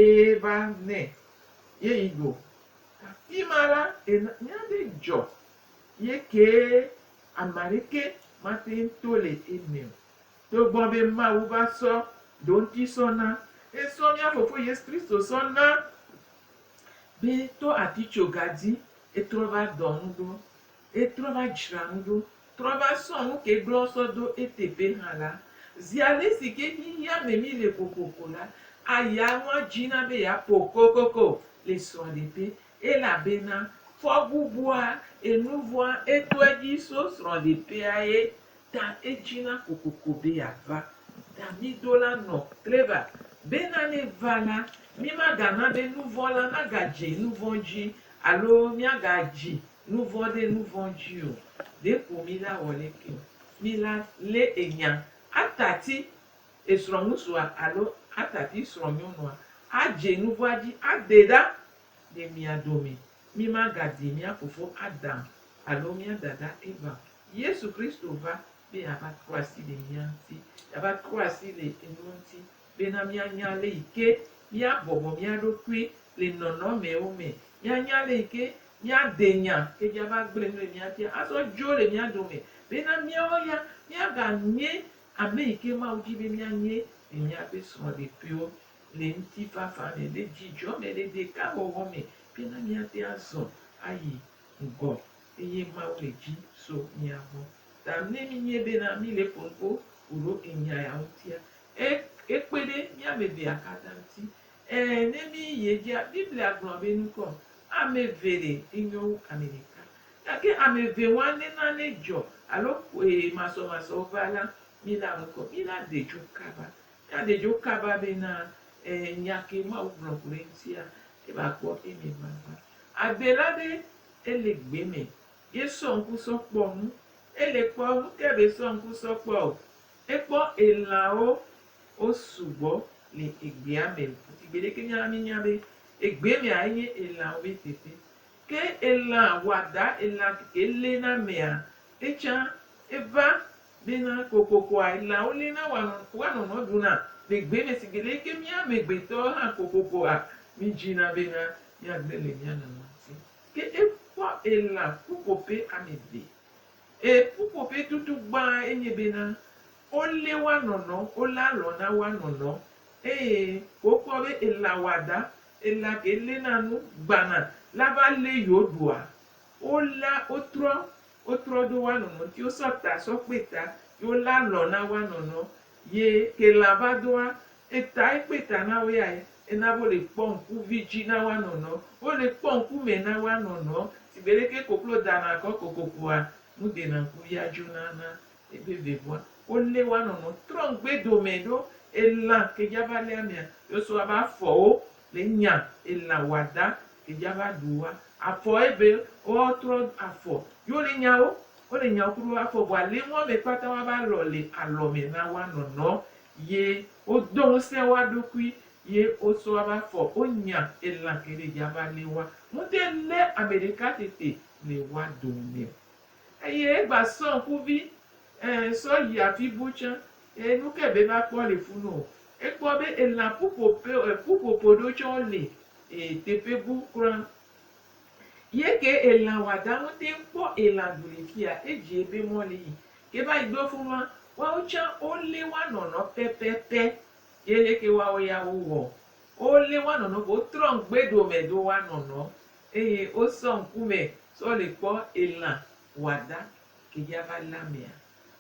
Eye va nɛ, ye yi go. Afima la, nya ɖe dzɔ, ye kee ameaɖeke mateŋ to le eme o, togbɔ be Mawu va sɔ ɖoŋti sɔ na, esɔ mía Fofo Yesu Kristo sɔ na, be to atitsoga dzi etrɔ va dɔ nu ɖo. Etrɔ va dzra nu ɖo, trɔ va sɔ nu ke gblɔ sɔ do eteƒe hã la, zi ale si ke xexea me mi le kokoko la, aya nua dzi na be ya ƒo kokoko le srɔ̃ɖeƒe, elabena fɔbubua, enuvɔa, eto edzi so srɔ̃ɖeƒea ye ta edzi na kokoko be ya va. Ta mi do la nɔ kleva bena ne va la, mi ma ga na be nuvɔ̃ la naga dzi nuvɔ̃ dzi alo mia ga dzi Nu vɔ̃ ɖe nu vɔ̃ dzi o. Ɖeko mi la wɔ leke o. Mi la lé enya atati esrɔ̃ŋutsua alo atati srɔ̃nyɔnua adze nu vɔ̃a dzi ade ɖa le mia dome. Mi ma ga di mia fofo Adam alo mia dada Eva o. Yesu Kristo va be ya va trɔ asi le mia ŋuti. Ya va trɔ asi le enuwo ŋuti Bena míanya le yi ke míabɔbɔ mía ɖokui le nɔnɔmewo me, míanya le yi ke míade nya ke dzi ava gblẽ nu le mía ŋuti azɔ dzo le mía dome, bena míawo ya míaganye ame yi ke Mawu di be míanye le míaƒe srɔ̃ɖeƒewo, le ŋutifafa me, le dzidzɔ me, le ɖekawɔwɔ me, bena míate azɔ ayi ŋgɔ eye Mawu le dzi so mía gbɔ. Ta ne míenye bena míle ƒo nuƒo ku ɖo enya ya ŋutia, E, ekpe ɖe mía ame evea katã ŋuti. E, ne míyi edzia, Biblia gblɔa be nukɔ, Ame eve ɖe, enyo wu ame ɖeka. Gake ame eve wa ne nane dzɔ alo e, masɔmasɔwo va la, mína nukɔ. Mína de dzo kaba. Míade dzo kaba bena e, nya ke Mawu gblɔ ku ɖe eŋutia, eva kpɔ eme vava. Adela be, Ele gbe me. Ye sɔ ŋku sɔ kpɔ nu. Ele kpɔ nu ke be sɔ ŋku sɔ kpɔ o. Ekpɔ elãwo wosugbɔ le egbea me o. Esi gbeɖe ke mía la, míenya be egbe mea enye elãwo be teƒe. Ke elã wɔada, elã keke léna amea, etsã eva bena kokokoa elãwo léna woanɔ woanɔnɔ ɖuna le gbe me. Esi gbeɖe ke mía amegbetɔwo hã kokokoa mídzina bena míagblẽ le mía nɔnɔ ŋuti. Ke ekpɔ elã ƒuƒoƒe ame eve. Eye ƒuƒoƒetutu gbã enye bena, wolé woa nɔnɔ, wolé alɔ na woa nɔnɔ, eye wokpɔ be ela wɔada, ela ke léna nu gbãna la va lé yewo ɖoa, wolea, wotrɔ, wotrɔ ɖo woa nɔnɔ ŋuti, wosɔ ta sɔ kpe ta, ye wolé alɔ na woa nɔnɔ, Ye ke la va doa eta ekpe ta na wo yae, ena bo le kpɔ ŋku vidzi na woa nɔnɔ, wo le kpɔ ŋku mɛ na woa nɔnɔ, si be ɖeke koklo da na kɔ kokokoa, nu de na ŋku via djo na na ebe ve voa, wo le woa nɔnɔ trɔ ŋgbe domɛ ɖo ela ke dja va le amea, yo so aba afɔ wo le nya ela wɔada ke dja va ɖu woa, afɔ ebe woa trɔ afɔ yo le nya wo Wole nyawo kuɖo afɔ vɔ alinua me kpata woa va lɔ le alɔ me na woa nɔnɔ ye wo dɔ ŋusɛ woa ɖokui ye wo sɔ woa va fɔ wo nya elan ke ɖe dja va le woa ŋute le ame ɖeka tete le woa dome o. Eye egba sɔ ŋkuvi e sɔ yi afi bu tsã ye nuke be va kpɔ le funu o. Ekpɔ be elan ƒuƒoƒe e ƒuƒoƒo ɖewo tsɛ wo le e teƒe bu kura Ye ke elan wada ŋute ŋkpɔ elan du le fiya edzi ebe mɔ le yi ke va yi ɖo funua woawo tsã wo le woa nɔnɔ pɛpɛpɛ ye le ke woawo ya wo wɔ wo le woa nɔnɔ vɔ wo trɔ ŋgbe ɖo me do woa nɔnɔ eye wo sɔ ŋkume sɔ le kpɔ elan wada ke dza va le amea.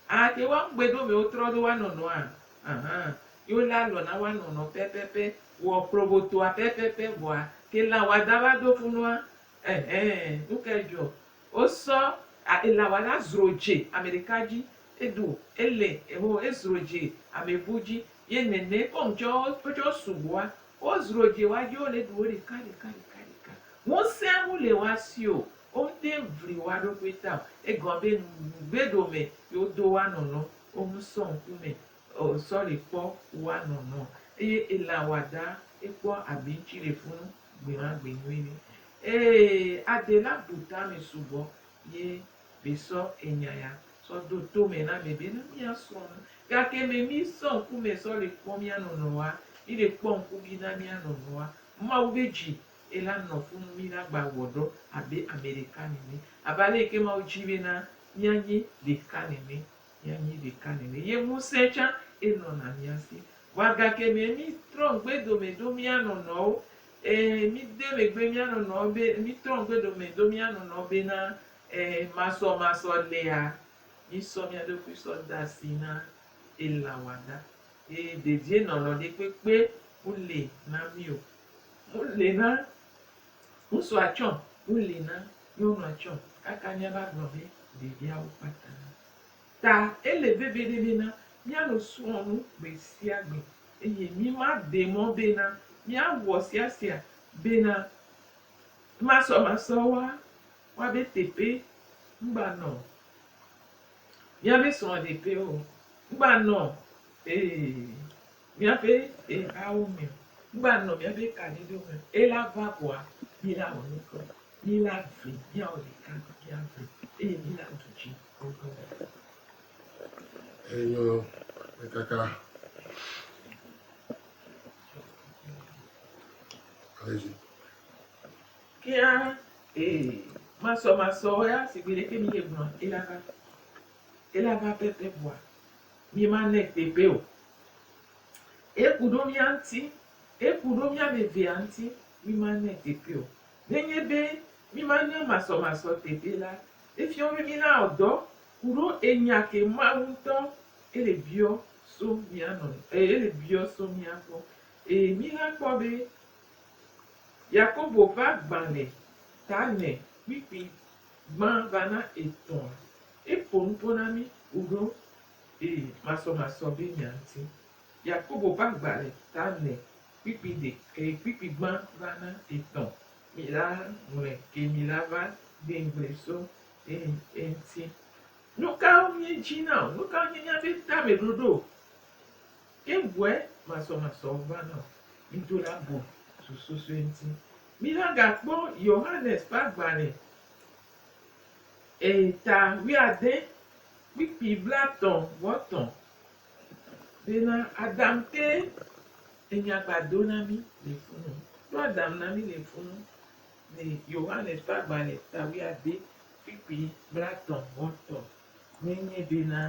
Ate ŋu agbe ɖo mɛwo trɔ ɖo woa nɔnɔ a? Ahan. Yi wo le alɔ na woa nɔnɔ pɛpɛpɛ. Wɔ klobotoa pɛpɛpɛ vɔa ke lã wɔada va do funua? Ɛhɛn. Nuka edzɔ? Wo sɔ a elã wɔada zro dze amɛɖeka dzi. Edo elɛ eho ezro dze amɛbu dzi. Ye nɛnɛ kɔŋ tsɔ wo tsɔ sugbɔa wo zro dze woa dzi wo le ɖu wo ɖeka ɖeka ɖeka ɖeka. Ŋusɛa mu le woa si o. Wonte ŋvli woa ɖokui ta o. Egɔn be ŋugbe ɖo me yi wo do woa nɔnɔ wo ŋu sɔ ŋku me ɔ sɔli kpɔ woa nɔnɔ. Eye elan wa da ekpɔ abi ŋtsi ɖe funu gbe ma gbe nyui ni. Ee ade la bu ta me subɔ ye be sɔ enya ya sɔ do to me na me be ne mia srɔ nu. Gake me mi sɔ ŋku me sɔli kpɔ mia nɔnɔ wa, mi ɖe kpɔ ŋkubi na mia nɔnɔ wa, Mawu be dzi Ye la nɔ fu nu mí na gba wɔ ɖɔ abe ame ɖeka nene, abe ale yi ke Mawu dzi be na mía nyi ɖeka nene, mía nyi ɖeka nene. Ye ŋusẽ tsã e nɔ na mía si. Vɔa gake mɛ mí trɔ ŋgbe dome do mía nɔ nɔwo. E, mí de megbe mía nɔ nɔwo be, mí trɔ ŋgbe dome do mía nɔ nɔwo be na e, masɔ masɔ lea, mí sɔ mía ɖokui sɔ da asi na ela wɔada. Ye dedienɔnɔ ɖe kpekpe mu li na mí o. Nu li na ŋutsua tsɔ, nu li na nyɔnua tsɔ kaka míava gblɔ be ɖeviawo kpata. Ta ele veviɖe bena míanɔ srɔ̃ nu gbe sia gbe eye míma de mɔ bena míawɔ sia sia bena masɔmasɔ wa woabe teƒe ŋgba nɔ míabe srɔ̃ɖeƒe o, ŋgba nɔ ee. Míaƒe ehawo me. Ŋgba nɔ míaƒe kaɖiɖo me ela va vɔa, mí la wɔ nu kɔ. Mí la vli, míawɔ ɖeka mía vli eye mí la du dzi gogogo. Enyo me kaka. Alezi. Kia e masɔ masɔ ya sigbe ɖeke mi ye gblɔ ela va. Ela va pepe vɔa. Míemanɛ tegbee o. Eku ɖo mía ŋuti. Eku ɖo mía ame evea ŋuti. Míemanɛ tegbee o. Nenye be míemana masɔmasɔ tegbee la, efiɔ be mílawɔ dɔ ku ɖo enya ke Mawu ŋutɔ ele biɔ so mía nɔ, e, ele biɔ so mía gbɔ. Eye míla kpɔ be Yakobo ƒe agbalẽ ta nɛ kpikpi Gbã va na etɔ̃ a. E ƒo nu ƒo na mí kuɖo e masɔmasɔ be nya ŋuti. Yakobo ƒe agba le ta nɛ kpikpi ɖe ke kpikpi gbã va na etɔ̃. Mi la ŋlɔe ke mi la va gbe ŋgble so e eŋuti. Nu kawo mí dzi na o? Nu kawo nye mía be tame ɖoɖo o? Ke ŋue masɔmasɔwo va na o. Mi do la bu zu susɔe ŋuti. Mígagakpɔ Yohanes ƒe agbalẽ ii ta wuiade, kpikpi blatɔ̃ vɔ tɔ̃, bena Adam te enya gba do na mí le funu. Ɖo Adam na mí le funu le Yohanes ƒe agbalẽ ta wuiade, kpikpi blatɔ̃ vɔ tɔ̃. Mi nyi bi na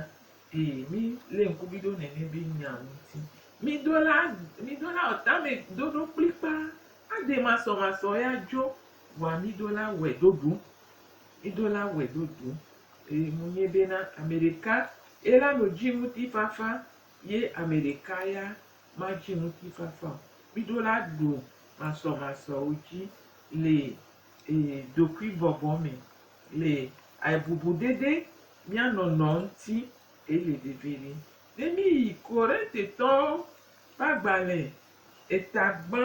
bi mi le ŋku bi ɖo nɛnɛ bi nya ŋuti. Mi do la mi do la ɔta me do ɖo kplikpa ade masɔ masɔ ya dzo wa mi do la wɛ do ɖu. Mi do la wɛ do ɖu. Eye mu nyi be na ame ɖeka ye la no dzi ŋuti fafa ye ame ɖeka ya ma dzi ŋuti fafa o. Mi do la ɖu masɔ masɔ wo dzi le e ɖokui bɔbɔ me. Le aibubu ɖeɖe mía nɔnɔ ŋuti ke le vivivi. Ne míyi Korintetɔwo ƒe agbalẽ eta gbã,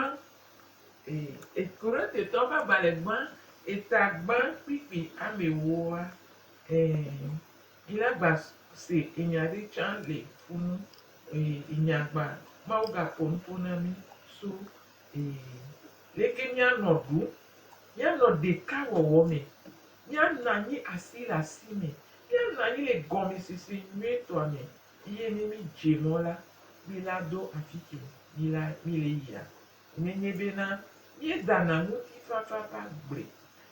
e, Korintetɔwo ƒe agbalẽ gbã eta gbã kplikpli ame ewoa, e, míla gba se enya ɖe tsã le fu nu, e, enya gba, Mawu gaƒo nu ƒo na mí so, e, leke míanɔ ɖum Míanɔ ɖeka wɔwɔ me. Míanɔ anyi asi le asi me. Míanɔ anyi le gɔmesese nyuietɔa me eye ne mídze mɔ la, míla do afi ke míla míle yia. Nenye bena míedana ŋutifafa ƒe agble,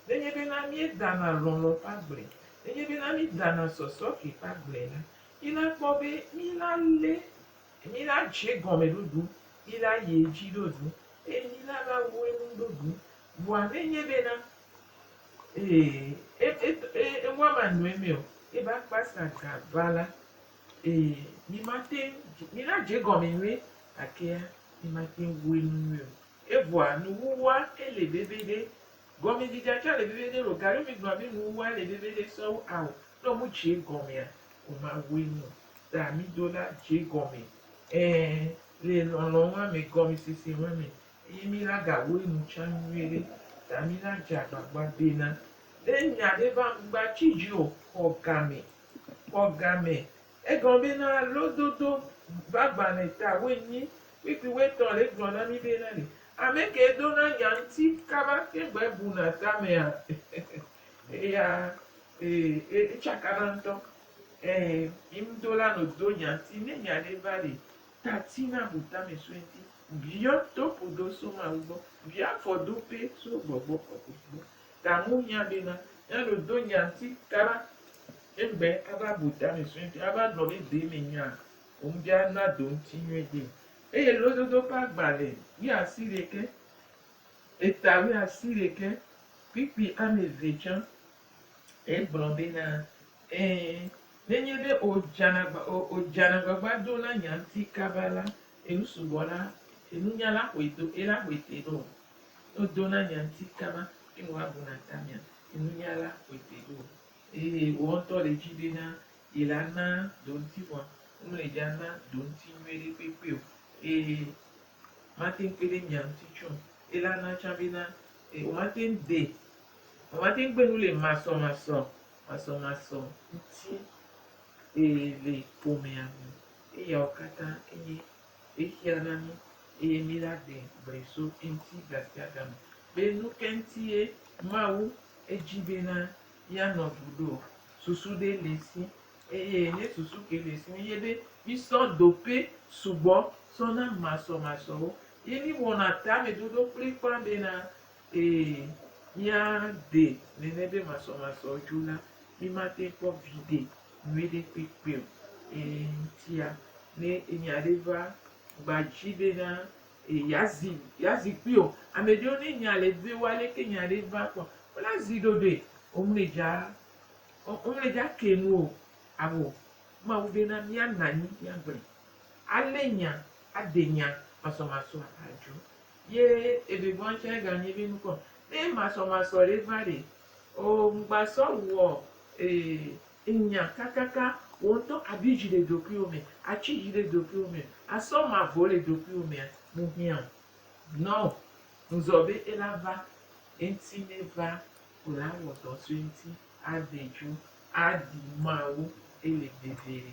nenye bena míedana lɔlɔ̃ ƒe agble, nenye bena míedana sɔsɔke ƒe agble la, míla kpɔ be míla lé Mí la dze gɔme ɖoɖu yi la yi edzi ɖoɖu eye mí la la wu enu ɖoɖu. Vɔa ne nye be na ee e e e wa ma nɔe mɛ o ebe akpa sa ga va la ee mí ma teŋ mí la dze gɔme nyuie gakea mí ma teŋ wu enu nyuie o. Evɔa nuwuwua ele bebe ɖe. Gɔme dzidzea tsã le bebe ɖe lo gaɖo mí gblɔ be nuwuwua le bebe ɖe sɔwu ao. Ne wo mu dze gɔmea wo ma wu enu o. ta mi do la dze gɔme, ẽ, le lɔlɔ̃ ŋua me, gɔmesese ŋua me, eye mi la ga wɔe nu tsã nyuie ɖe, ta mi la dze agbagba be na ɖe nya ɖe va ŋgba tsi dzi o, xɔ game, xɔ game, egɔme be na lododo va gbalẽ ta woenyi kpikpi woetɔ̃ le gblɔ na mi be na ɖe ame kee do na nya ŋuti kaba te ŋgbe bu na tamea? Eya, e, e, e tsakana ŋutɔ. Ẽ, yi ŋdo la no do nya ŋti, ne nya ɖe va ɖe tati na bu tame soe ŋti, biɔ topo do so Mawu gbɔ, biɔ afɔ do pɛ so gbɔgbɔ kɔkɔe gbɔ. Ta ŋu hiã be na nya ɖo do nya ŋti kaba eŋgbe ava bu tame soe ŋti ava gblɔ be de me nya o ŋdi a na do ŋti nyuie de. Eye lododo ƒe agbalẽ wuiasi ɖekɛ, eta wuiasi ɖekɛ, kpikpi ame eve tsã Egblɔ be, Na, ẽ, nenye be òdzana, òdzana agbagba do na nya ŋuti kaba la, enu sugbɔ la, nunya la ƒoe do, eye la ƒoe te ɖo. Ne wòdo na nya ŋuti kaba, eye wòabu na tamea, nunya la ƒoe te ɖo. Eye wò ŋutɔ le edzi be na ye la, na do ŋuti vɔ̃. Womele edzi ana do ŋuti nyui ɖe kpekpe o, eye mate ŋu kpe ɖe nya ŋuti tsɛ o. Eye la na tsã be na, womate ŋu dee. Womate ŋu gbe nu le masɔmasɔ masɔmasɔ ŋuti e le ƒomea me. Eyawo katã enye xexea na mí eye míla ɖe gbe so eŋuti gasiagame be nu ka ŋutie Mawu edzi bena míanɔ ŋu ɖo. Susu ɖe le esi eye ne susu ke le esi mi nye be mísɔ dope sugbɔ sɔ na masɔmasɔwo ye míwɔna tamedodo kplikpaa bena Ee, míade nene be masɔmasɔ dzo la, mímate ŋu akpɔ viɖe nyuiɖe kpekpe o. Ee, ŋutia, ne enya aɖe va gba dzi bena yeazi yeazi kpui o, ame ɖewo ne nya le eve wo aleke nya aɖe va kpɔ, wona zi ɖoɖoe. Womedza womedza ke nu o. Ao, Mawu bena míanɔ anyi míagblɔe. Alé nya, aɖe nya masɔmasɔa adzo. Ye ebe bɔn tsɛ ganyi be nukɔ be masɔmasɔ ɖe va ɖe oo ŋgba sɔ wɔ ee nya kakaka wo ŋtɔ abi dzi le ɖokuiwo me atsi dzi ɖe ɖokuiwo me asɔ mavɔ le ɖokuiwo mea mu hiã o nɔ ŋzɔ be ela va eŋti ne va ko la wɔ dɔ so eŋti adedzo aɖi mawu ele veviɖe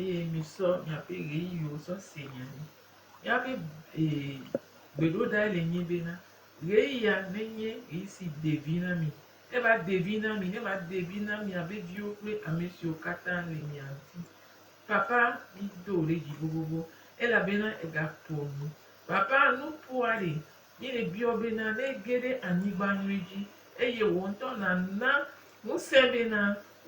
Eye misɔ miaƒe ɣeyiɣiwo sɔ se nya ɖi. Míaƒe gbeɖoɖae le nyi bena, ɣeyiɣia nenye ɣeyiɣi si de vi na mi. Ne eva de vi na mi, ne eva de vi na miaƒe viwo kple ame siwo katã le mia ŋuti. Papa, mido wò ɖe dzi vovovo, elabena ègaƒo nu. Papa, nuƒoa ɖe Ye ebiɔ bena ne ege ɖe anyigba nyui dzi, eye wò ŋutɔ nàna ŋusẽ bena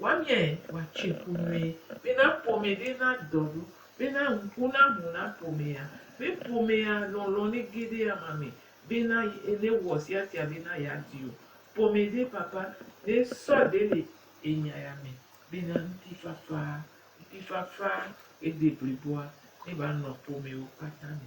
wòamiae wòatsoe ƒu nyuie, bena ƒome ɖe nadɔ ɖo, bena ŋku naʋu na ƒomea, be ƒomea lɔlɔ̃ nege ɖe ama me, bena newɔ siasia bena yeadi o. Ƒome ɖe papa ɖe sɔ ɖe le enya ya me bena ŋutifafa, ŋutifafa ede bliboa neva nɔ ƒomewo kpata me.